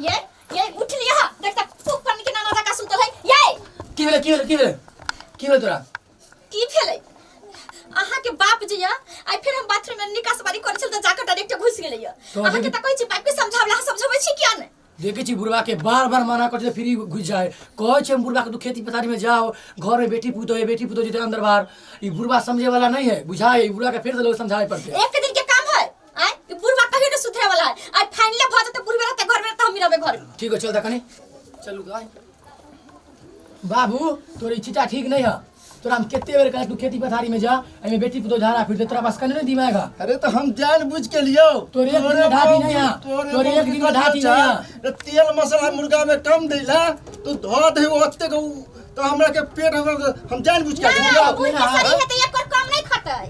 ये ये उठ लिया हा देख तक फूक करने के नाना था का सुतल है ये की भेलै की भेलै की भेलै की भेलै तोरा की भेलै अहाँ के बाप जे या आई फिर हम बाथरूम में निकास बारी करे छल त जाकर डायरेक्ट घुस गेलै या तोहर अहाँ के जे- त कहै छी बाप के समझावला समझबै छी किया ने देखे छी बुढ़वा के बार बार मना कर छै, फिर ई घुस जाए कहे छै हम बुढ़वा के तू खेती पथारी में जाओ घर में बेटी पुतो है बेटी पुतो जेते अंदर बाहर ई बुढ़वा समझे वाला नहीं है बुझाए ई बुढ़वा के फिर से लोग समझाए पड़ते एक दिन के काम है आय ई बुढ़वा कहियो ने सुधरे वाला है आय फाइनली भऽ जेतै बुढ़वे रहतै घर में रहतै हम ही रहबै घर में ठीक है चल देखनी चलू गाय बाबू तोर ई चीटा ठीक नहीं है तोरा हम कितने बेर कहत तू खेती पथारी में जा एमे बेटी पुतो झाड़ा फिर तोरा पास कने नहीं दिमाग है अरे तो हम जान बुझ के लियो तोरे एक दिन में ढाटी नहीं है। तोरे तोरे एक दिन में ढाटी नहीं है। तो तेल मसाला मुर्गा में कम देला तू धो दे ओते के उ- तो हमरा के पेट हमरा के- हम जान बुझ के ना, लियो बाबू, ई ना, कसरी हाँ। हेतै, एकर कम नै खतै।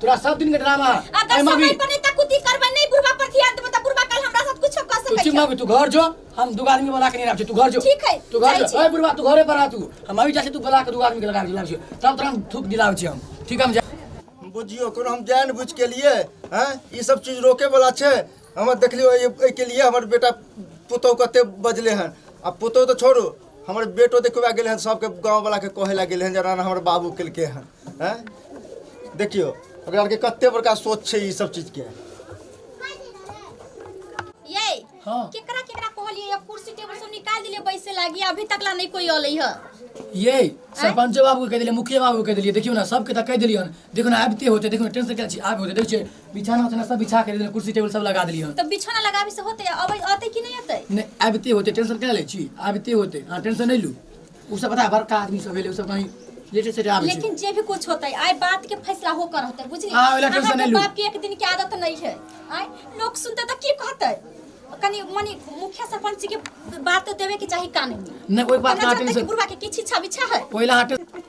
तोरा सब दिन के ड्रामा है अगर अरे मम्मी समय पर नहीं तक कुछ करबे नहीं बुढ़वा पर ध्यान देबे त बुढ़वा कल हमरा साथ कुछ कर तू सकै चुप मम्मी तू घर जो हम दू आदमी के बना के नहीं रख तू घर जो ठीक है, तू घर जाइ जो छी। ओए बुढ़वा तू घरे पर आ तू हम अभी जा छी तू बुला के दू आदमी के लगा दिलाब छी तब तोरा हम थूक दिलाब छी हम ठीक है, हम जा बुझियो कोनो हम जान बुझ के लिए हैं ई सब चीज रोके वाला छै हमर देखलियो एहि के लिए हमर बेटा पुतौ कते बजले हन आ पुतौ तो छोड़ू हमर बेटो देखबा गेल हन सबके गाँववलाके कहै लए गेल हन जे राणा हमर बाबू केलकै हन हैं देखियौ ओकरा आरके कते बड़का सोच छै ई सब चीजके ये हाँ। केकरा केकरा कहलिए ये कुर्सी टेबल सब निकाल दिले बैसे लागी अभी तक ला नहीं कोई अलै ह ये सरपंचो बाबू के कह दिलियै मुखिया बाबू के कह दिलियै देखियौ ने सबके तऽ कह दिलियै हन देखियौ ने आबिते होते देखियौ ने टेंशन के छी आबि होते देखियौ बिछाना उछाना सब बिछा के देलियै कुर्सी टेबुल सब लगा देलियै तऽ बिछौना लगाबी से होतै अबै अतै कि नहि अतै नहि आबिते होते टेंशन क्या लै छी आबिते होते अहाँ टेंशन नहीं लू उ सब पता है, बड़का आदमी सब भेलै उ सब कहीं लेटे सेटे आबै छै लेकिन जे भी कुछ होतै आइ बात के फैसला हो कर होतै बुझली हाँ, ओला टेंशन अहाँके नहीं लू। बाप के एक दिन के आदत नहीं है आइ लोग सुनते तऽ की कहतै कनी मनी मुखिया सरपंच के बात तऽ देबे के चाही कानूनी नहीं कोई बात ना टेंशन बुढ़वा के किछ इच्छा बिछा है कोई ला टेंशन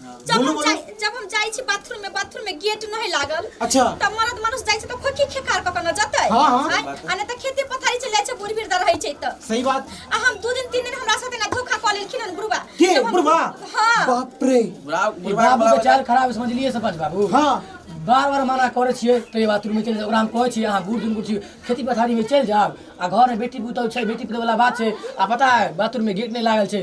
जब बोलू हम बोलू जाइ- जब हम जाइ छी बाथरूम में बाथरूम में गेट नहीं लागल अच्छा। तब मरद मानुस जाइ छै त खोकी खेकार क कना जतै हाँ, हाँ। आँय? आ नै त खेती पथारी चल जाइ छै बुढ़ बिरदा रहै छै त सही बात आ हम दू दिन तीन दिन हमरा साथे ना धोखा क लेलखिन हन बुढ़वा के जब हम- बुढ़वा हाँ बाप रे बुढ़ा ई बुढ़वा बाबू के चाल खराब है, समझलिए सरपंच बाबू हाँ बार बार मना करे छिए तो ये बाथरूम में चल जाओ ओकरा हम कहे छिए अहाँ बूढ़ दुनकुर छी खेती पथारी में चल जाओ आ घर में बेटी पुतहु छै बेटी पुतहु वाला बात छै आ पता है बाथरूम में गेट नहीं लागल छै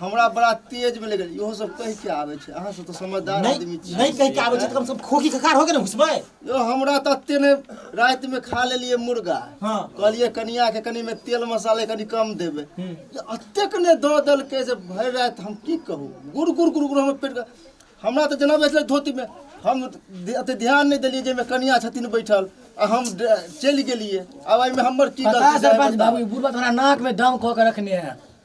हमरा बड़ा तेज में लगल इहो सब कह के आवे छै अहाँ सब तो समझदार आदमी नहीं छी नहीं कह के आवे छै त कम से कम खोखी के कार हो के न घुसबै यो हमरा त ते ने रात में खा लेलिए मुर्गा हां कहलिए कनिया के कनी में तेल मसाले कनी कम देबे अतेक ने द दल के जे भर रात हम की कहू गुर गुर गुर गुर हमर पेट हमरा त जना बैठले धोती में हम अते ध्यान नहीं देलिए जे में कनिया छथिन बैठल आ हम चल गेलिए अब एमे हमर की गलती सरपंच बाबू बुढ़वा तोरा नाक में दम क के रखने है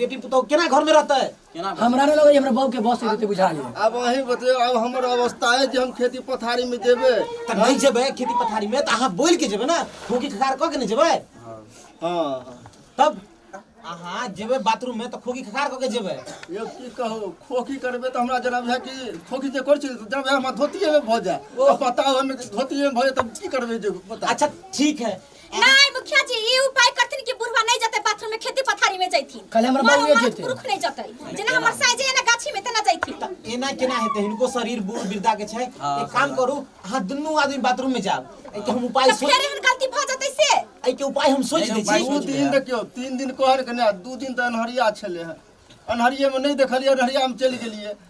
बेटी पुतौ केना घर में रहते केना घर- हमरा नहीं लगे हमरा बहू के बस देते बुझा गया अब अही बतैयो अब हमर अवस्था है जे हम खेती पथारी में जेबे त नहीं जेबे खेती पथारी में त अहाँ बोल के जेबे ना खोकी खखार क के नहीं जेबे हाँ तब अहाँ जेबे बाथरूम में त खोकी खखार क के जेबे ये की कहो खोखी करबे तो हमरा जना है कि खोखी जे कर छी जना है हमरा धोतिए में भऽ जाए ओ बताओ हम धोतिए में भऽ जाए तब की करबे जे बता अच्छा ठीक है नहीं मुखिया जी ई उपाय करथिन कि बुढ़वा नहीं जते बाथरूम में खेती पथारी में जैथिन कल हमर मर बउए मरद जेतै। पुरुख नहीं जते जेना हमर साई जे है ना गाछी में तना जैथिन तऽ एना केना हेतै हिनको शरीर बूढ़ वृद्धा के छै एक काम करू अहाँ दुनू आदमी बाथरूम में जाब एहिके हम उपाय तो सोच फेर एहन गलती भ जते से एहिके उपाय हम सोच दै छी दू दिन देखियौ तीन दिन कहल के ने दू दिन तऽ अन्हरिया छलै हँ अन्हरिये में नहि देखलियै अन्हरिया में चलि गेलियै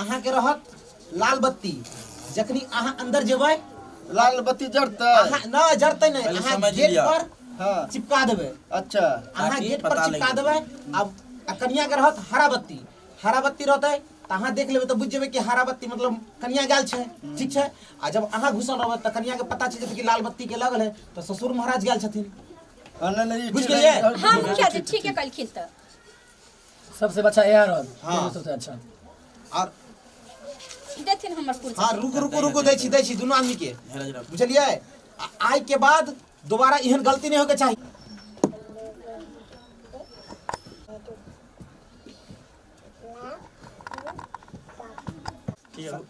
अहाँके रहत लाल बत्ती जखनी अहाँ अंदर जेबै लाल बत्ती जड़तै अहाँ ना जरतै नहीं पहिले अहाँ समझ गेट लिअ। पर हाँ चिपका देबै अच्छा अहाँ ताकि गेट पर पता चिपका लगे। देबै अब आ कनिया के रहत हरा बत्ती हरा बत्ती रहतै तऽ अहाँ देख लेबै तऽ बुझि जेबै कि हरा बत्ती मतलब कनिया गेल छै ठीक छै आ जब अहाँ घुसल रहबै तऽ कनिया के पता चल जेतै कि लाल बत्ती के लगल है तऽ ससुर महाराज गेल छथिन हाँ, नहीं नहीं बुझ ठीक है, गेलियै? ठीक है। हाँ मुखिया जी ठीक है कलखिन तऽ सबसे अच्छा यह रहल हाँ। हाँ। सबसे अच्छा और देथिन हमर कुर्सी हाँ रुको रुको रुको दै छी दै छी दुनू आदमी के बुझलियै आ- आइ के बाद दोबारा एहन गलती नहीं होके चाही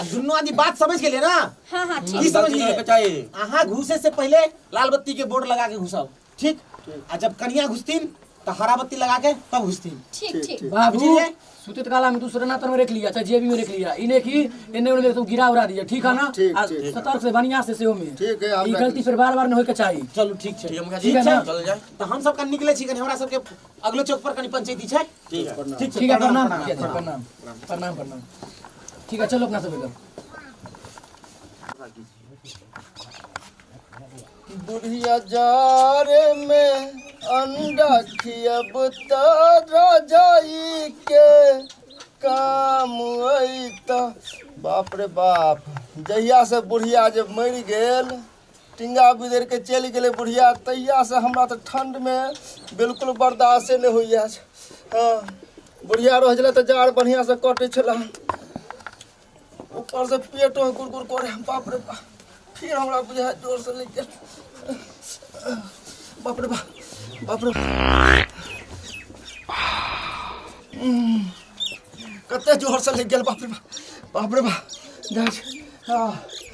आ दुनू आदमी बात समझ गेलिए ना हाँ हाँ ठीक ई समझ गलती के चाही। लिए अहाँ घुसे से पहले लाल बत्ती के बोर्ड लगा के घुसाओ ठीक आ जब कनिया घुसतीन तो हरा बत्ती लगा के तब घुसतीन ठीक ठीक बाबू बुझलिए? सुतित काला में दूसरे नातर में रख लिया चाहे जेबी में रख लिया इन्हें की इन्हें उन्हें तो गिरा उड़ा दिया ठीक है ना ठीक, आ, ठीक। सतर्क से बढ़िया से सेहो में ठीक है, हम ई रख गलती फिर बार बार न होए के चाहिए चलू ठीक छै ठीक है मुखिया जी ठीक है ना? चल जाए तो हम सब का निकले छी कनी हमरा सब के अगलो चौक पर कनी पंचायती छै ठीक है ठीक छै ठीक है प्रणाम ठीक है प्रणाम प्रणाम प्रणाम ठीक है चलो अपना सब लोग बुढ़िया जारे में अंडा खियब त रजाई के काम अइता बाप रे बाप जहिया से बुढ़िया जे मरि गेल टिंगा बिदर के चलि गेलै बुढ़िया तहिया से हमरा तऽ ठंड मे बिल्कुल बर्दाश्ते नहि होइया हँ बुढ़िया रहै छलै तऽ जाड़ बढ़िया से कटै छलै ऊपर से पेटो गुड़गुड़ करे बाप रे बाप फिर हमरा बुझाय जोर से लागि गेल बाप रे बाप बाप रे उम्म, कते जोर से लागि गेल बाप रे बाप बाप रे बाप जाइ छै हँ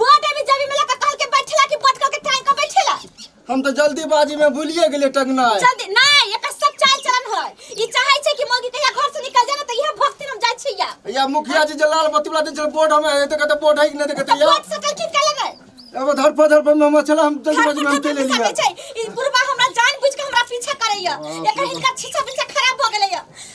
बड अभी जबी में लगा कहल के बैठेला कि बड कहल के टाइम का बैठेला हम तो जल्दीबाजी में भूलिए गेलिए टंगनाय जल्दी नहीं एकर सब चाल चलन है ई चाहे छै कि मौगी कहिया घर से निकल जाए ना तो यह भक्ति हम जाय छिया या मुखिया जी जे लाल बत्ती वाला दिन छल बोर्ड हमें एते कहते बोर्ड है कि नहीं देखते तो या बड सकल किन का लगे अब धर पर धर पर में हम चला हम जल्दीबाजी में हम चले लिया ई बुढ़वा हमरा जान बुझ के हमरा पीछा करैया एकर हिनका छीछा पीछा खराब भ गेलैया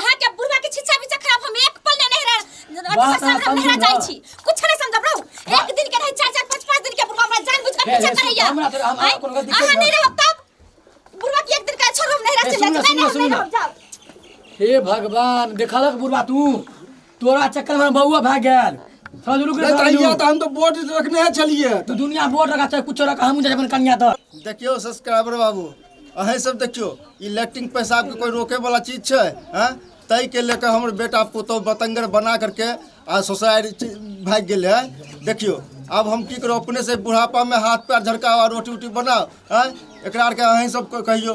अहाँ के बुढ़वा के छिछा बिछा खराब हम एक पल नहीं रह अथी बात पर सामने अहाँ समझू मेरा ना। जाई छी कुछ नहीं समझब रहू एक दिन के नहीं चार चार पांच पांच दिन के बुढ़वा हमरा जान बुझ के हे, पीछा हे, करैया हमरा तो- हमरा आँय? कोनो दिक्कत अहाँ ना। नहीं रहब तब बुढ़वा के एक दिन का छोड़ हम नहीं रह हे, चले सुनू ना, जाए सुनू ना, नहीं सुनू ना। रहब जाओ हे भगवान देखलक बुढ़वा तू तोरा चक्कर में बउआ भाग गेल समझ रुक रे कहिया त हम त बोर्ड रखने छलिए तू दुनिया बोर्ड रखा चाहे कुछ रखा हम जाए अपन कन्या द देखियो सब्सक्राइबर बाबू अहे सब देखियो इलेक्ट्रिक पैसा के कोई रोके वाला चीज छै हैं तय के लेकर हमर बेटा पुतो बतंगर बना करके आ सोसाइटी भाग गेल है देखियो अब हम की करो अपने से बुढ़ापा में हाथ पैर झड़काओ रोटी उटी बनाओ हैं एकरा आर के अहीं सब कहियो